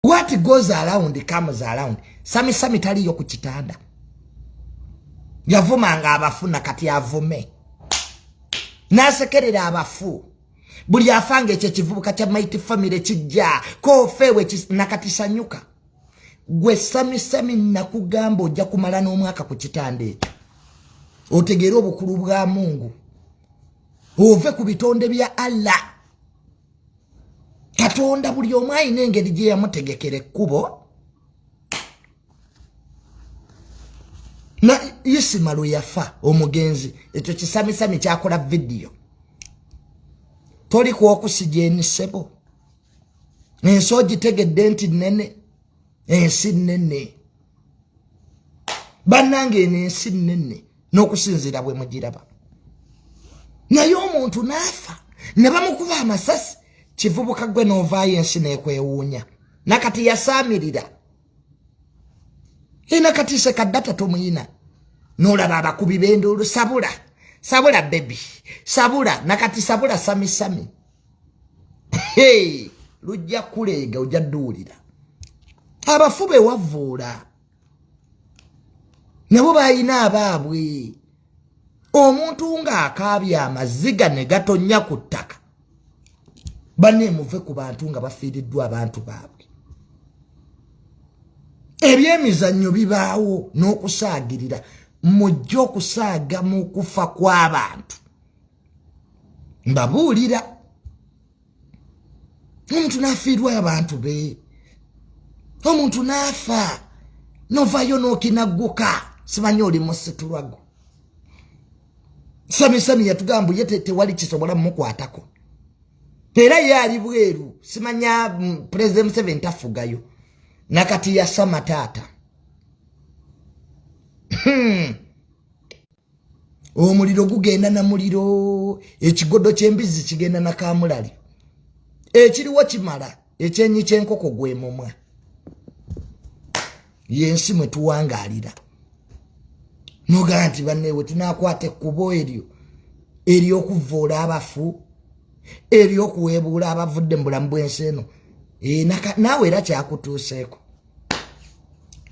what goes around comes around sami sami taliyo ku kitanda yavumanga abafu na kati avume nasekerera abafu buli afanga ekyo ekivubuka kya mighty family kijja kofewe nakatisanyuka gwe sami sami nakugamba ojja kumala n'omwaka ku kitanda ekyo otegeere obukulu bwa mungu ove ku bitonde bya allah katonda buli omu alina engeri gye yamutegekera ekkubo na isima lwe yafa omugenzi ekyo kisamisami kyakola vidiyo toli kwokusija emisebo ensi ogitegedde nti nene ensi nnene bannanga eno ensi nnene n'okusinziira bwe mugiraba naye omuntu n'afa ne bamukuba amasasi kivubuka gwe n'ovaayo ensi n'ekwewuunya nakati yasaamirira ina kati sekaddata tomuyina n'olaba abakubi b'enduulu sabula sabula bebi sabula nakati sabula samisami sami. hey, lujja kuleega ojja duwulira abafu bewavuula nabo balina abaabwe omuntu ng'akaabya amaziga ne gatonnya ku ttaka baneemuve ku bantu nga bafiiriddwa abantu baabwe ebyemizannyo bibaawo n'okusaagirira mujje okusaaga mu kufa kw'abantu mbabuulira omuntu n'afiirwa abantu be omuntu n'afa novayo n'okinagguka simanyi oli musitulwago samisami yatugamba ye tewali kisobola mumukwatako era ye ali bweru simanya mm, pulezidenti museveni tafugayo nakati yasama taata hmm. omuliro gugenda na muliro ekigodo ky'embizzi kigenda na kamulali ekiriwo kimala ekyenyi ky'enkoko gwe mumwa yensi mwe tuwangaalira nogaa nti banneewe tunakwata ekkubo eryo ery'okuvvoola abafu ery'okuweebuula abavudde mu bulamu bw'ensi eno eh, naawe era kyakutuuseeko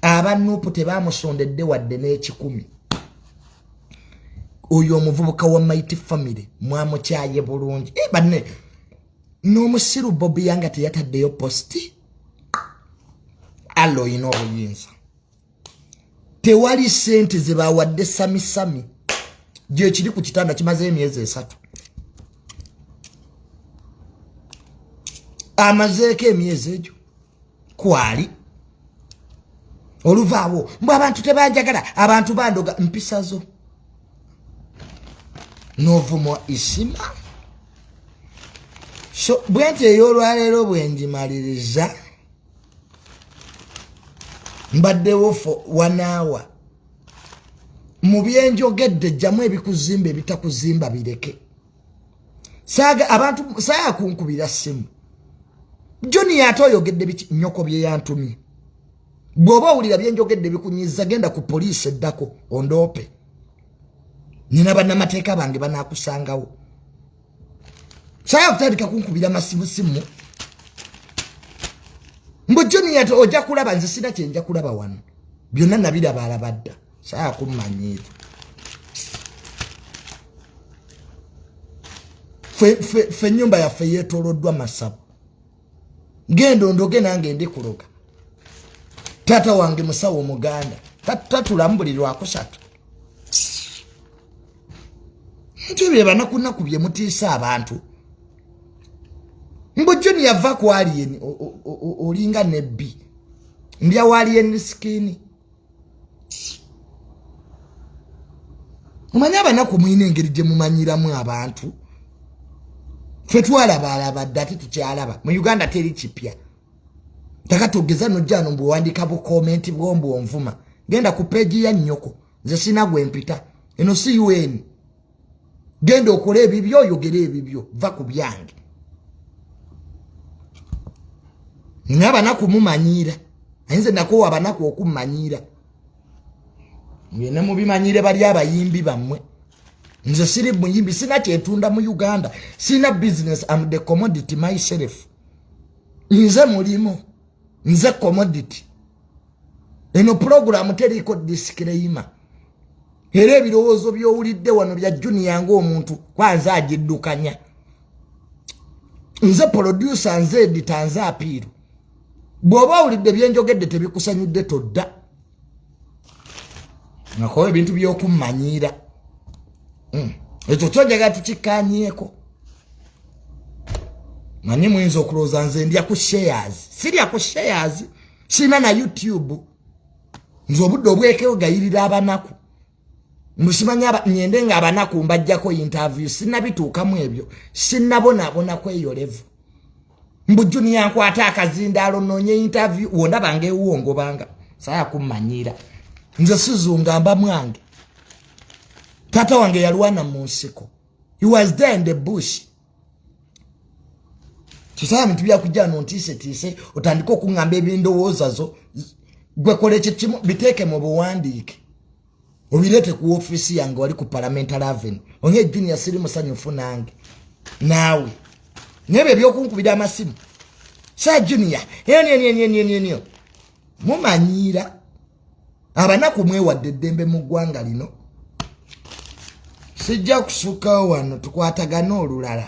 aba nupu tebamusondedde wadde n'ekikumi oyo omuvubuka wa mighty family mwamukyaye bulungi eh, banne n'omusiru bobi yanga teyataddeyo posti alla olina obuyinza tewali sente zebawadde samisami gyekiri ku kitanda kimaze emyezi esatu amazeeko emyezi egyo kwali oluvaawo mbu abantu tebanjagala abantu bandoga mpisa zo novumwa isima so bwenti eyolwaleero bwenjimaliriza mbaddewo fo wanaawa mu byenjogedde jjamu ebikuzimba ebitakuzimba bireke saaga abantu saaya kunkubira simu joni ate oyogedde nyoko bye yantumye bw'oba owulira bye njogedde bikunyiza genda ku poliisi eddako ondoope nina bannamateeka bange banaakusangawo saaya kutandika kunkubira masimusimu mbu joni ate ojja kulaba nze sina kyenja kulaba wano byonna nabirabaalabadda saa kummanyiira fe nyumba yaffe yetoloddwa masabu ngenda ondoge nange ndi kuloga taata wange musawo omuganda tatulamu buli lwakusatu nti ebyo ebanakunaku bye mutiisa abantu mbu joni yava ku aliyeni olinga nebbi ndya wa aliyeni sikini mumanyi abanaku mulina engeri gye mumanyiramu abantu fe twalabaalaba dde ate tukyalaba mu uganda teri kipya taka togeza nojjano mbwewandika bukomenti bwombwonvuma genda ku peegi ya nnyoko nze sina gwe mpita eno si un genda okole ebibyo oyogere ebibyo va ku byange nina abanaku mumanyiira ayinze nakowa abanaku okumanyiira ngende mubimanyiire bali abayimbi bammwe nze siri muyimbi sina kyetunda mu uganda sina business am the commodity myself nze mulimu nze commodity eno pulogulaamu teriiko disikireyima era ebirowoozo by'owulidde wano bya juniya ng'omuntu kwanze agiddukanya nze polodyusa nze edita nze apiiru bw'oba owulidde byenjogedde tebikusanyudde todda nakola ebintu byokumanyiira hmm. ekyo kyojaga tukikanyeko manyi muyinza okulowooza nze ndya ku shares sirya ku shares sirina na youtube nze obudde obwekeyogayirira abanaku musimanya ngende nga abanaku mbajjako interview sinabituukamu ebyo sinabonabona kweyolevu mbu juniya nkwata akazindaalo noonye interview wona bange ewuwo ngobanga saya kummanyiira nze sizunga mba mwange taata wange yalwana mu nsiko he was there in the bush kyosaba bintu byakujja no ntiisetiise otandike okuŋŋamba ebindowooza zo gwekola ekyo kimu biteeke mu buwandiike obireete ku ofiisi yange wali ku parliamental avenue onye junior siri musanyufu nange naawe naye byo ebyokunkubira amasimu sa junior enyo enyo enyo enyo enyo mumanyiira abanaku mwewadde eddembe mu ggwanga lino sijja kusukkawo wano tukwatagane olulala